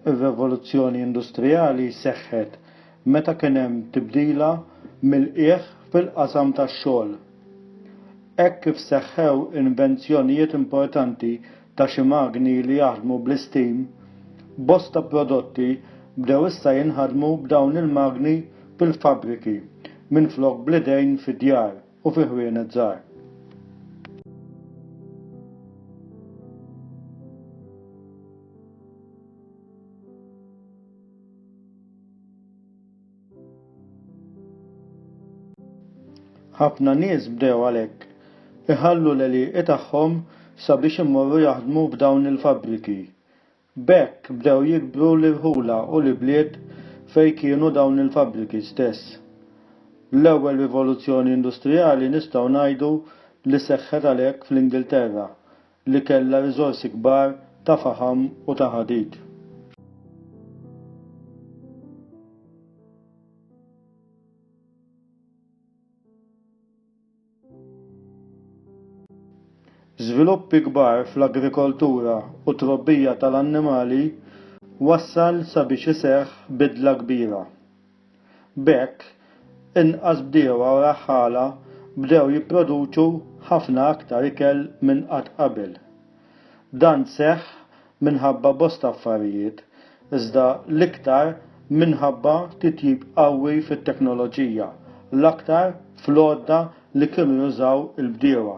ir-rivoluzzjoni industrijali seħħet meta kien hemm tibdila mill-qiegħ fil-qasam tax-xogħol. Hekk kif seħħew invenzjonijiet importanti ta' xi magni li jaħdmu bl-isteam, bosta prodotti bdew issa jinħadmu b'dawn il-magni fil-fabbriki minflok bl-idejn fid-djar u fi ħwienet żgħar. Ħafna nies bdew għalhekk iħallu l-għelieqi tagħhom sabiex imorru jaħdmu f'dawn il-fabbriki. B'hekk bdew jikbru l-irħula u l-ibliet fejn kienu dawn il-fabbriki stess. L-ewwel rivoluzzjoni industrijali nistgħu ngħidu li seħħet għalhekk fl-Ingilterra li kellha riżorsi kbar ta' faħam u ta' ħadid. Żviluppi kbar fl-agrikoltura u t-trobbija tal-annimali wassal sabiex iseħħ bidla kbira B'hekk, inqas bdiewa u raħħala bdew jipproduċu ħafna aktar ikel minn qatt qabel. Dan seħħ minħabba bosta affarijiet, iżda l-iktar minħabba titjib qawwi fit-teknoloġija, l-aktar fl-għodda li kienu jużaw il-bdiewa.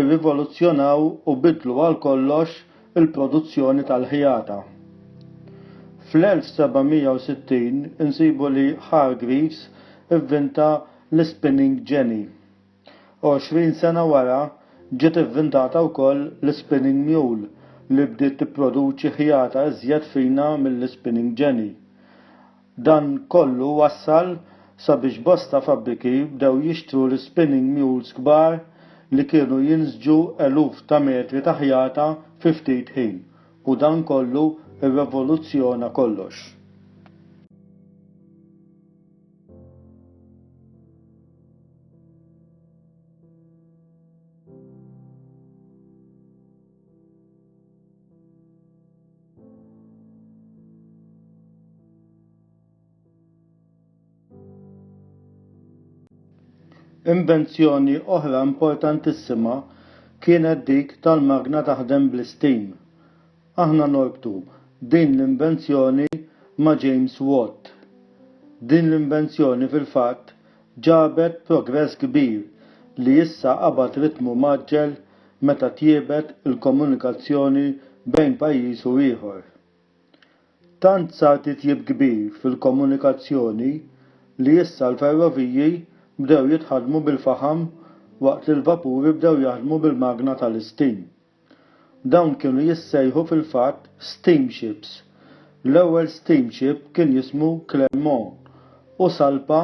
irrivoluzzjonaw u biddlu għal kollox il-produzzjoni tal-ħjata. Fl-1760 insibu li Hargreaves ivvinta l-ispinning jenny. Għoxrin sena wara ġiet ivvintata wkoll l-ispinning mule li bdiet tipproduċi ħjata iżjed fina mill-ispinning jenny. Dan kollu wassal sabiex bosta fabbriki bdew jixtru l-spinning mules kbar li kienu jinsġu eluf ta' metri ta' ħjata fi ftit ħin u dan kollu rrevoluzzjona kollox. Invenzjoni oħra importantissima kienet dik tal-magna taħdem bl-istim. Aħna norbtu din l-invenzjoni ma' James Watt. Din l-invenzjoni fil-fatt Ġabet progress kbir li issa qabad ritmu mgħaġġel meta tjiebet il-komunikazzjoni bejn pajjiż u ieħor. Tant sar titjib kbir fil-komunikazzjoni li issa l-ferroviji bdew jitħaddmu bil-faħam waqt li l-vapuri bdew jaħdmu bil-magna tal-istim. Dawn kienu jissejħu fil-fatt steamships. L-ewwel steamship kien jismu Clermont u salpa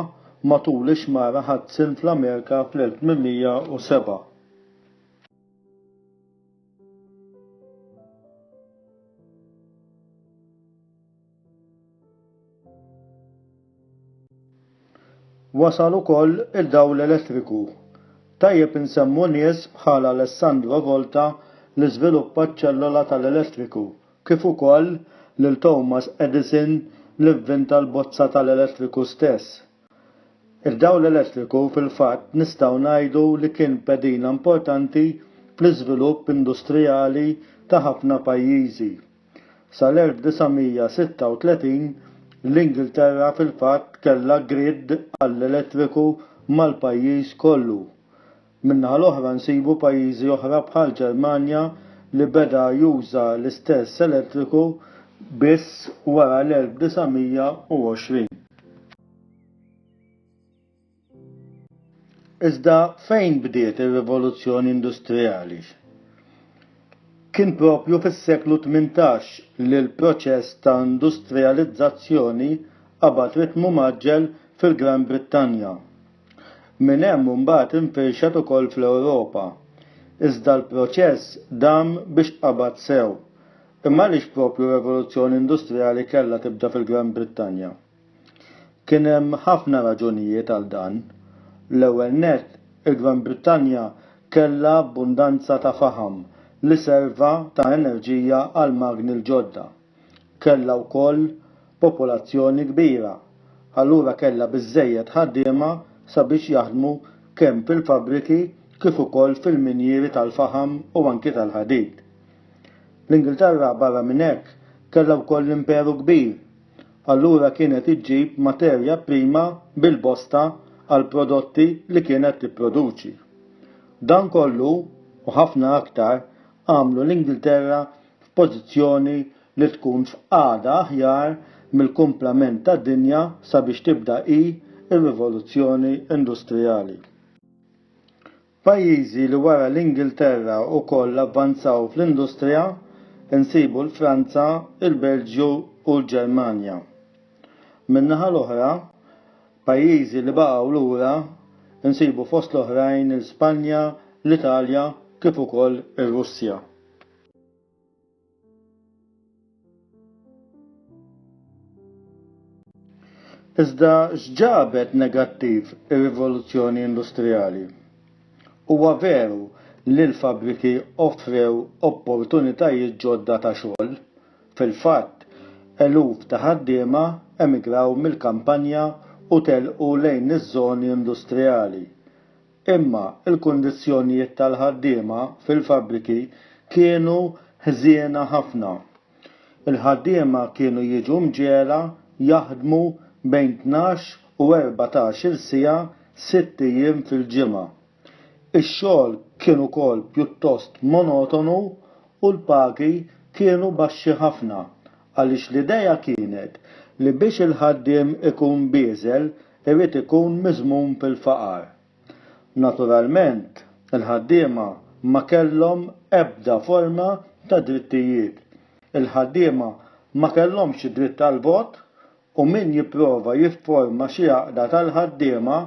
matul ix-xmara Hudson fl-Amerika fl-1807. Wasal ukoll id-dawl elettriku. Tajjeb insemmu nies bħal Alessandro Volta li żviluppa ċ-ċellola tal-elettriku, kif ukoll lil Thomas Edison li vvinta l-bozza tal-elettriku stess. Id-dawl elettriku fil-fatt nistgħu ngħidu li kien pedina importanti fl-iżvilupp industrijali ta' ħafna pajjiżi. Sal-1936, l-Ingilterra fil-fatt kellha grid għall-elettriku mal-pajjiż kollu. Min-naħa l-oħra nsibu pajjiżi oħra bħall-Ġermanja li beda juża l-istess elettriku biss wara l-1920. Iżda fejn bdiet ir-rivoluzzjoni industrijali? Kien proprju fis-seklu tmintax li l-proċess ta' industrijalizzazzjoni qabad ritmu mgħaġġel fil-Gran Brittanja. Minn hemm imbagħad infirxet ukoll fl-Ewropa. Iżda l-proċess dam biex qabad sew. Imma għaliex proprju r-rivoluzzjoni industrijali kellha tibda fil-Gran Brittanja? Kien hemm ħafna raġunijiet għal dan. L-ewwel nett, il-Gran Brittanja kellha abbundanza ta' faħam li serva ta' enerġija għall-magni l-ġodda. Kellha wkoll popolazzjoni kbira, allura kellha biżżejjed ħaddiema sabiex jaħdmu kemm fil-fabbriki kif ukoll fil-minjieri tal-faħam u anki tal-ħadid. L-Ingilterra barra minn hekk kellha wkoll l-Imperu Kbir allura kienet iġġib materja prima bil-bosta għall-prodotti li kienet tipproduċi. Dan kollu, u ħafna aktar, għamlu l-Ingilterra f'pożizzjoni li tkun f'qagħda aħjar mill-kumplament tad-dinja sabiex tibda hi r-rivoluzzjoni industrijali. Pajjiżi li wara l-Ingilterra ukoll avvanzaw fl-industrija nsibu l-Franza, il-Belġju u l-Ġermanja. Min-naħa l-oħra, pajjiżi li baqgħu lura nsibu fost l-oħrajn l-Spanja, l-Italja kif ukoll ir-Russja. Iżda x'ġabet negattiv ir-rivoluzzjoni industrijali? Huwa veru li l-fabbriki offrew opportunitajiet ġodda ta' xogħol. Fil-fatt, eluf ta' ħaddiema emigraw mill-kampanja u telqu lejn iż-żoni industrijali. Imma l-kundizzjonijiet tal-ħaddiema fil-fabbriki kienu ħżiena ħafna. Il-ħaddiema kienu jiġu mġegħla jaħdmu bejn tnax u erbatax-il siegħa sitt ijiem fil-ġimgħa. Ix-xogħol kien ukoll pjuttost monotonu u l-pagi kienu baxxi ħafna għaliex l-idea kienet li biex il-ħaddiem ikun bieżel irid ikun miżmum fil-faqar. Naturalment, il-ħaddiema ma kellhom ebda forma ta' drittijiet. Il-ħaddiema ma kellhomx id-dritt għall-vot u min jipprova jifforma xi għaqda tal-ħaddiema,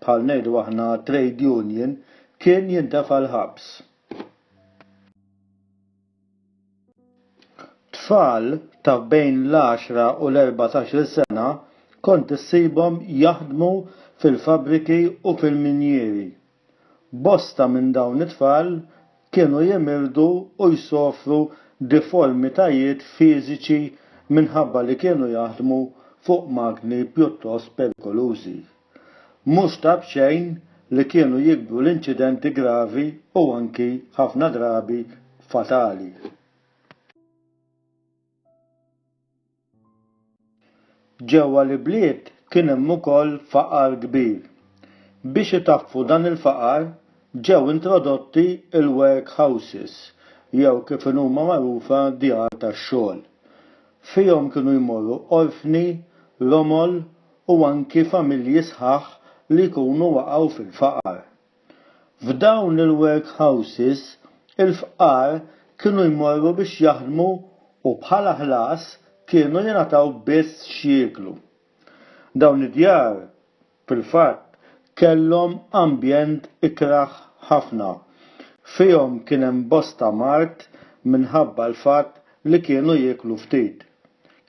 bħal ngħidu aħna trade union, kien jintefa' l-ħabs. Tfal ta' bejn l-għaxra u l-erbatax-il sena kont issibhom jaħdmu fil-fabbriki u fil-minjieri. Bosta minn dawn it-tfal kienu jimirdu u jsofru diformitajiet fiżiċi minħabba li kienu jaħdmu fuq magni pjuttost perikolużi. Mhux ta' b'xejn li kienu jikbru l-inċidenti gravi u anki ħafna drabi fatali. Ġewwa l-ibliet kien hemm ukoll faqar kbir. Biex itaffu dan il-faqar ġew introdotti l-work houses jew kif inhuma magħrufa djar tax-xogħol. Fihom kienu jmorru orfni, romol u anki familji sħaħ li jkunu waqgħu fil-faqar. F'dawn il-workhouses il-fqar kienu jmorru biex jaħdmu u bħala ħlas kienu jingħataw biss x'jieklu. Dawn id-djar fil-fatt kellhom ambjent ikrah ħafna. Fihom kien hemm bosta mard minħabba l-fatt li kienu jieklu ftit.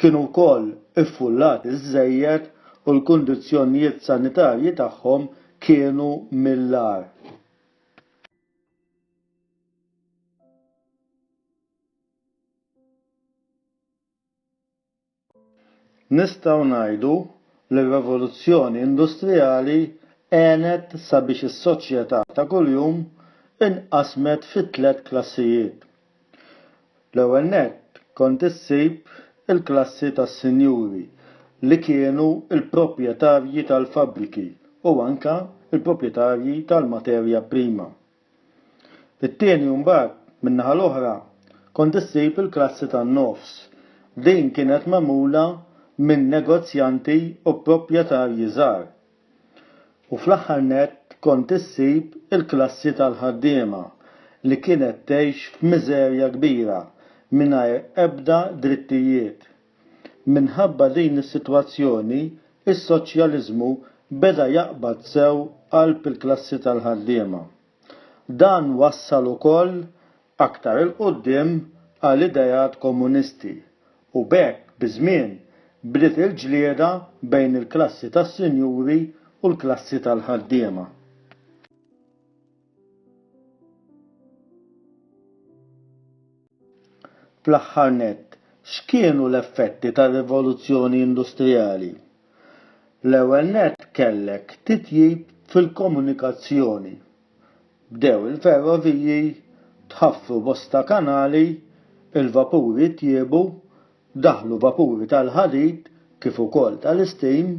kienu wkoll iffullati żżejjed u l-kundizzjonijiet sanitarji tagħhom kienu mill-agħar. Nistgħu ngħidu li r-revoluzzjoni industrijali għenet sabiex is-soċjetà ta' kuljum inqasmet fi tliet klassijiet, L-ewwel nett kont issib il-klassi tas-sinjuri li kienu l-proprjetarji tal-fabbriki u anke l-proprjetarji tal-materja prima. It-tieni u mbagħad, min-naħa l-oħra, kont issib il-klassi tan-nofs. Din kienet magħmula minn negozjanti u proprjetarji żgħar. U fl-aħħar nett kont issib il-klassi tal-ħaddiema li kienet tgħix f'miżerja kbira mingħajr ebda drittijiet. Minħabba din is-sitwazzjoni, is-soċjaliżmu beda jaqbad sew qalb il-klassi tal-ħaddiema. Dan wassal ukoll aktar 'il quddiem għal ideat komunisti u b'hekk biż-żmien bdiet il-ġlieda bejn il-klassi tas-sinjuri u l-klassi tal-ħaddiema. Fl-aħħar nett, x'kienu l-effetti tar-rivoluzzjoni industrijali? L-ewwel nett kellek titjib fil-komunikazzjoni, Bdew il-ferroviji, tħaffru bosta kanali, il-vapuri tjiebu, daħlu vapuri tal-ħadid kif ukoll tal-isteam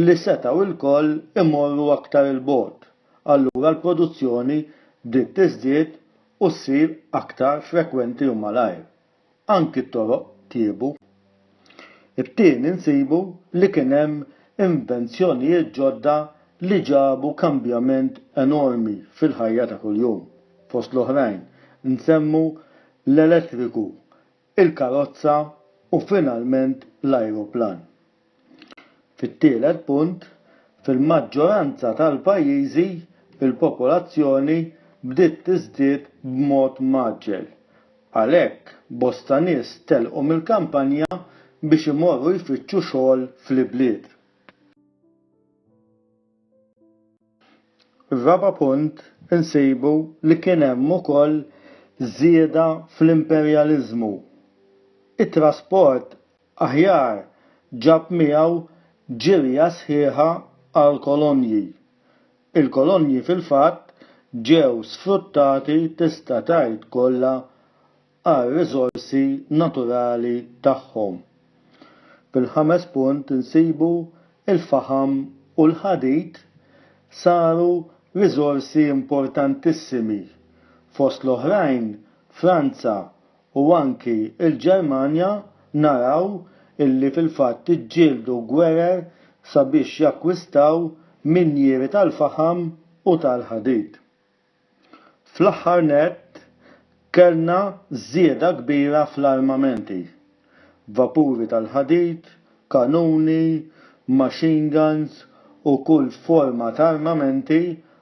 li setgħu ilkoll imorru aktar 'il bogħod, allura l-produzzjoni bdiet tiżdied u ssir aktar frekwenti u malajr. anki t-toroq tjiebu. It-tieni nsibu li kien hemm invenzjonijiet ġodda li ġabu kambjament enormi fil-ħajja ta' kuljum. Fost l-oħrajn nsemmu l-elettriku, il-karozza u finalment l-ajruplan. Fit-tielet punt, fil-maġġoranza tal-pajjiżi l-popolazzjoni bdiet tiżdied b'mod mgħaġġel. Għalhekk, bosta nies telqu mill-kampanja biex imorru jfittxu xogħol fl-ibliet. Ir-raba' punt, insibu li kien hemm ukoll żieda fl-imperjaliżmu. It-trasport Aħjar ġab miegħu ġirja sħiħa għall-kolonji. Il-kolonji fil-fatt ġew sfruttati tista' tgħid kollha għar-riżorsi naturali tagħhom. Fil-ħames punt insibu l-faħam u l-ħadid saru riżorsi importantissimi, fost l-oħrajn Franza u anki l-Ġermanja naraw illi fil-fatt iġġieldu gwerer sabiex jakkwistaw minjieri tal-faħam u tal-ħadid. Fl-aħħar nett kellna żieda kbira fl-armamenti, vapuri tal-ħadid, kanuni, machine guns u kull forma ta' armamenti